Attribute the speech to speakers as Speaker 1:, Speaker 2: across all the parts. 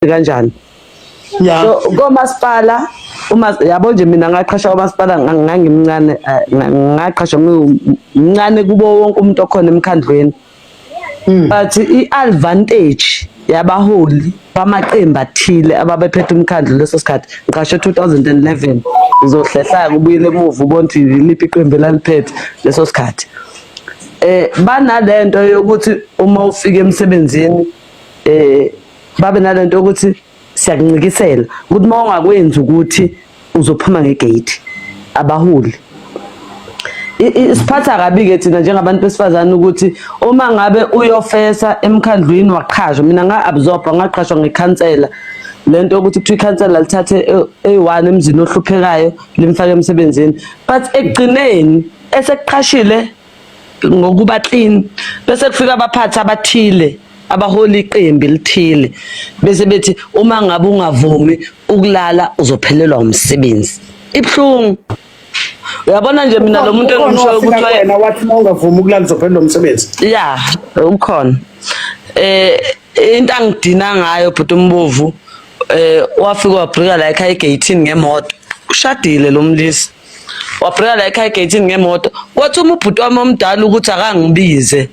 Speaker 1: kanjani yeah.
Speaker 2: so komasipala
Speaker 1: uma yabo nje mina ngaqhasha komasipala ngangimncane eh, ngaqhasha ngimncane kubo wonke umuntu okhona emkhandlweni hmm. but i-advantage yabaholi bamaqembu athile ababephethe umkhandlu leso sikhathi ngiqashe 2011 uzohlehlaya kubuyele emuva ubona ukuthi yiliphi iqembu elaliphethe leso sikhathi eh banalento yokuthi uma ufika emsebenzini eh babe nalento ukuthi siyakuncikisela ukuthi uma ungakwenzi ukuthi uzophuma ngegate abaholi isiphatha kabi-ke thina njengabantu besifazane ukuthi uma ngabe uyofesa emkhandlwini waqhashwa mina nga-absorba ngaqhashwa ngekhansela le nto yokuthi kuthiwa ikhansela lithathe eyi-one emzini ohluphekayo limfake emsebenzini but ekugcineni esekuqhashile ngokuba clean bese kufika abaphathi abathile abaholi iqembu lithile bese bethi uma ngabe ungavumi ukulala uzophelelwa umsebenzi ibhlungu uyabona nje mina lo muntu engimshoyo ukuthi wena wathi uma ungavumi
Speaker 2: ukulala uzophelelwa umsebenzi ya
Speaker 1: ukhona eh into angidina ngayo bhuti umbovu eh wafika wabhrika la ekhaya egate ngemoto ushadile lo mlisa wabhreka la ekhaya egeyithini ngemoto wathuma ubhuti wami omdala ukuthi akangibize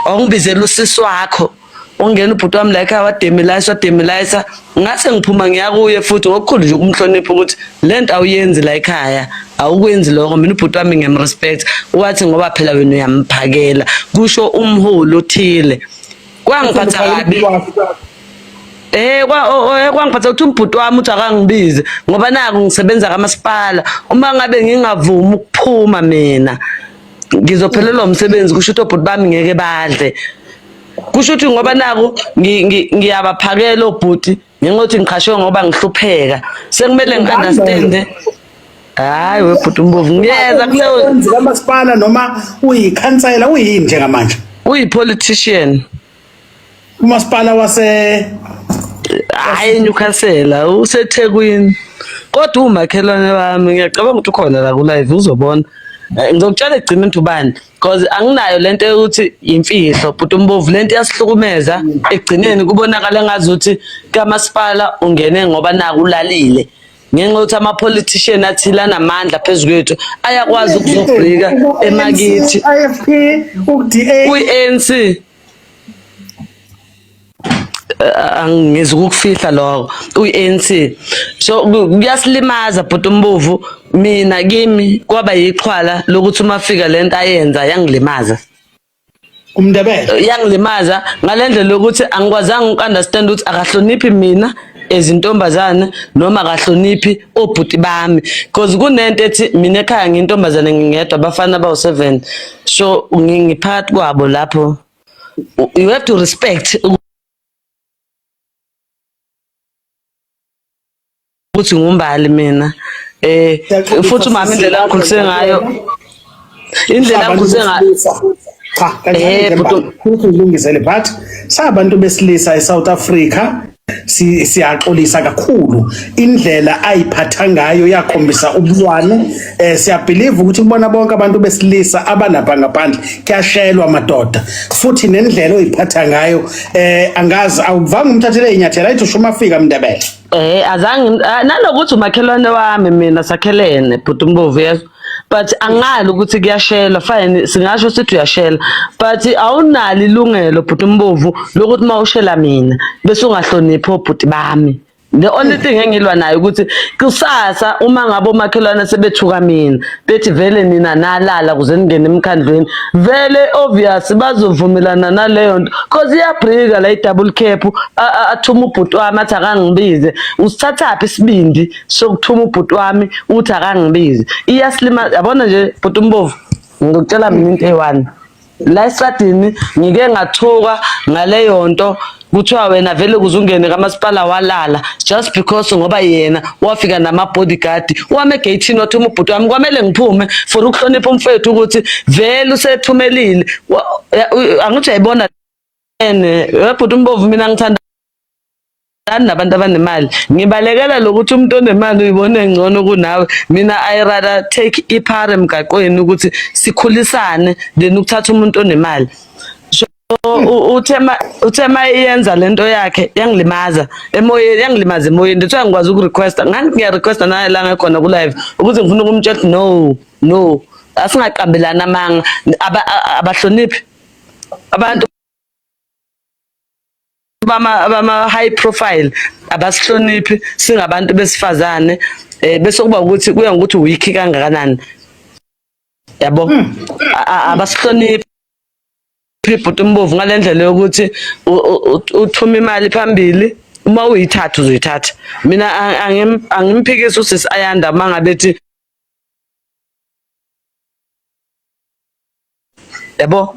Speaker 1: awungibizela usisi wakho ungena ubhuti wami la ekhaya wademilayisa wademilayisa ngase ngiphuma ngiya kuye futhi ngokukhulu nje ukumhlonipha ukuthi le nto awuyenzi la ekhaya awukwenzi lokho mina ubhuti wami ngiyamrespect wathi ngoba phela wena uyamphakela kusho umholi othile kwangiphatha kabi Eh kwa eh, kwangiphatha ukuthi umbhuti wami uthi akangibize ngoba naku ngisebenza kamasipala uma ngabe ngingavumi ukuphuma mina ngizophelelwa umsebenzi kusho ukuthi obhuti bami ngeke badle kusho ukuthi ngoba naku ngiyabaphakela obhuti ngengothi ngiqhashwe ngoba ngihlupheka sekumele ngi-understande hayi webhuti umbovu ngiyeza kamasipala noma
Speaker 2: uyikhansela uyini njengamanje uyi-politician umasipala wase
Speaker 1: hayi newcastle usethekwini kodwa umakhelwane wami ngiyacabanga ukuthi ukhona la kulive uzobona eh, ngizokutshela egcina into ubani cause anginayo lento yokuthi yimfihlo bhuti umbovu lento iyasihlukumeza ekugcineni kubonakala ngazi ukuthi kamasipala ungene ngoba naku ulalile ngenxa yokuthi ama-politician athile anamandla phezu kwethu ayakwazi ukuzobhika emakithi
Speaker 2: kwi-anc
Speaker 1: uh, angizwa ukufihla lokho uyi-anc so ku- kuyasilimaza bhuti umbovu mina kimi kwaba yixhwala lokuthi uma fika le nto ayenza yangilimaza
Speaker 2: umndebele yangilimaza
Speaker 1: ngale ndlela yokuthi angikwazanga uku-understand ukuthi akahloniphi mina ezintombazane noma akahloniphi obhuti bami because kunento ethi mina ekhaya ngiyintombazane ngingedwa abafana bawu-seven so ngi- ngiphakathi kwabo lapho you have to respect ukuthi ngumbali mina eh futhi umama indlela angikhulise ngayo indlela angikhulise ngayo
Speaker 2: cha kanjani eh, futhi ulungisele but sabantu besilisa eSouth Africa Si- siyaxolisa kakhulu indlela ayiphatha ngayo yakhombisa ubulwane um siyabhiliva ukuthi kubona bonke abantu besilisa abalapha ngaphandle kuyashelwa madoda futhi nendlela oyiphatha ngayo um angazi awuvanga umthathele inyathela ayithi usho umafika mndebele Eh azange
Speaker 1: ah, nanokuthi umakhelwane wami mina sakhelene bhuti umbovu yezwa. but angali ukuthi kuyashela fine singasho sithi uyashela but awunalo ilungelo bhuti umbovu lokuthi uma ushela mina bese ungahloniphi obhuti bami the only thing engilwa nayo ukuthi kusasa uma ngabe omakhelwane sebethuka mina bethi vele nina nalala kuze ningene emkhandlweni vele obvious bazovumelana naleyo nto cause iyabrika la i-double cap athuma ubhuti wami athi akangibize usithathaphi isibindi sokuthuma ubhuti wami uthi akangibizi iyasilima yabona nje bhuti umbovu ngikutshela mina into eyi-one la esadini ngike ngathuka ngaleyo nto kuthiwa wena vele kuze ungene kamasipala walala just because ngoba yena wafika nama-bodyguard wame egeyithini wathuma ubhuti wami kwamele ngiphume for ukuhlonipha umfethu ukuthi vele usethumelile angithi uyayibona ene webhuti umbovu mina ngithanda Ngani nabantu abanemali ngibalekela lokuthi umuntu onemali uyibona engcono kunawe mina i rather take iphara emgaqweni ukuthi sikhulisane than ukuthatha umuntu onemali so u- uthe ma- uthe ma iyenza lento yakhe yangilimaza emoyeni yangilimaza emoyeni ndithiwa ngikwazi ukurequesta ngani ngiyarequesta naye la ngekhona kulive ukuthi ngifuna ukumtshela ukuthi no no asingaqambelani amanga Aba- a- abahloniphi abantu bama bama high profile abasihloniphi singabantu besifazane eh bese kuba ukuthi kuya ngokuthi weak kangakanani yabo hmm. abasihloniphi ibhuti umbovu ngalendlela yokuthi uthuma imali phambili uma uyithatha uzoyithatha mina angimphikisi usisi ayanda uma ngabe ethi yabo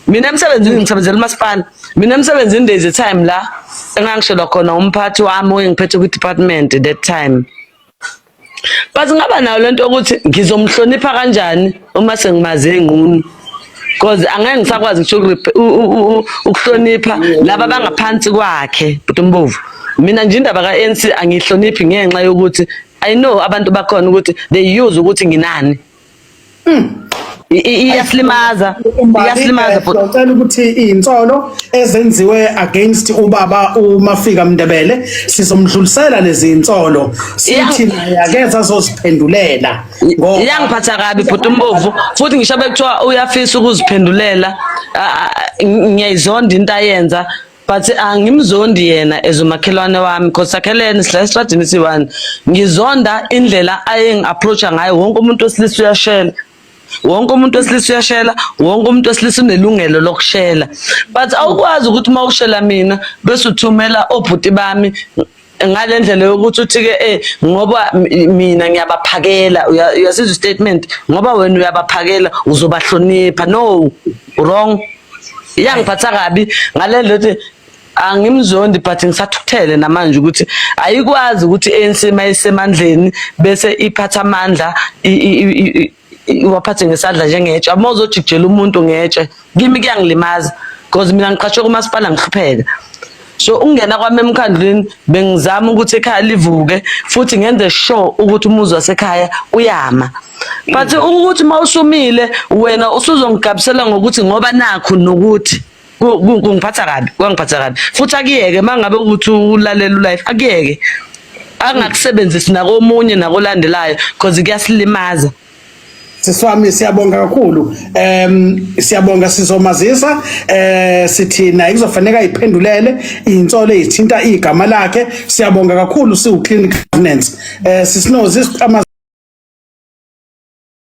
Speaker 1: mina emsebenzini ngisebenzela umasipala mina emsebenzini there is a time la engangishelwa khona umphathi wami oyengiphethe kwi-department at that time but ngaba nayo lento yokuthi ngizomhlonipha kanjani uma sengimaze ngqunu because angeke ngisakwazi ngisho ukuhlonipha laba bangaphansi kwakhe bhuti umbovu mina nje indaba ka-ANC angihloniphi ngenxa yokuthi i know abantu bakhona ukuthi they use ukuthi nginani iyasilimaza iyasilimaza bhuti
Speaker 2: ngicela ukuthi insolo ezenziwe against ubaba umafika mndebele sizomdlulisela lezi insolo sithi naye akeza azoziphendulela ngoba iyangiphatha
Speaker 1: kabi bhuti umbovu futhi ngisho bekuthiwa uyafisa ukuziphendulela ah, ah, ngiyayizonda into ayenza but angimzondi yena as umakhelwane wami cause sakhelene sihlala esitradini siyi-one ngizonda indlela ayengi-approacha ngayo wonke umuntu wesilisa uyashela wonke umuntu wesilisa uyashela wonke umuntu wesilisa unelungelo lokushela but awukwazi ukuthi uma ushela mina bese uthumela obhuti bami ngale ndlela yokuthi uthi-ke eh ngoba mina ngiyabaphakela uyasizwa istatement ngoba wena uyabaphakela uzobahlonipha no wrong iyangiphatha kabi ngale ndlela yokuthi angimzondi but ngisathuthele namanje ukuthi ayikwazi ukuthi ANC mayisemandleni bese iphatha amandla iwaphathe ngesandla njengetshe uma uzojikijela umuntu ngetshe kimi kuyangilimaza because mina ngiqashwe kumasipala ngihlupheka so ukungena kwami emkhandlwini bengizama ukuthi ekhaya livuke futhi ngenze sure ukuthi umuzi wasekhaya uyama but ukuthi uma usumile wena usuzongigabisela ngokuthi ngoba nakho nokuthi Ku- ku- kungiphatha kabi kwangiphatha kabi futhi akuyeke uma ngabe ukuthi ulalela ulife akuyeke angakusebenzisi nakomunye nakolandelayo cause kuyasilimaza siswami
Speaker 2: siyabonga kakhulu um siyabonga sizomazisa eh sithi naye kuzofaneka iphendulele insolo ezithinta igama lakhe siyabonga kakhulu siwu clinic governance eh sisinozi siqhama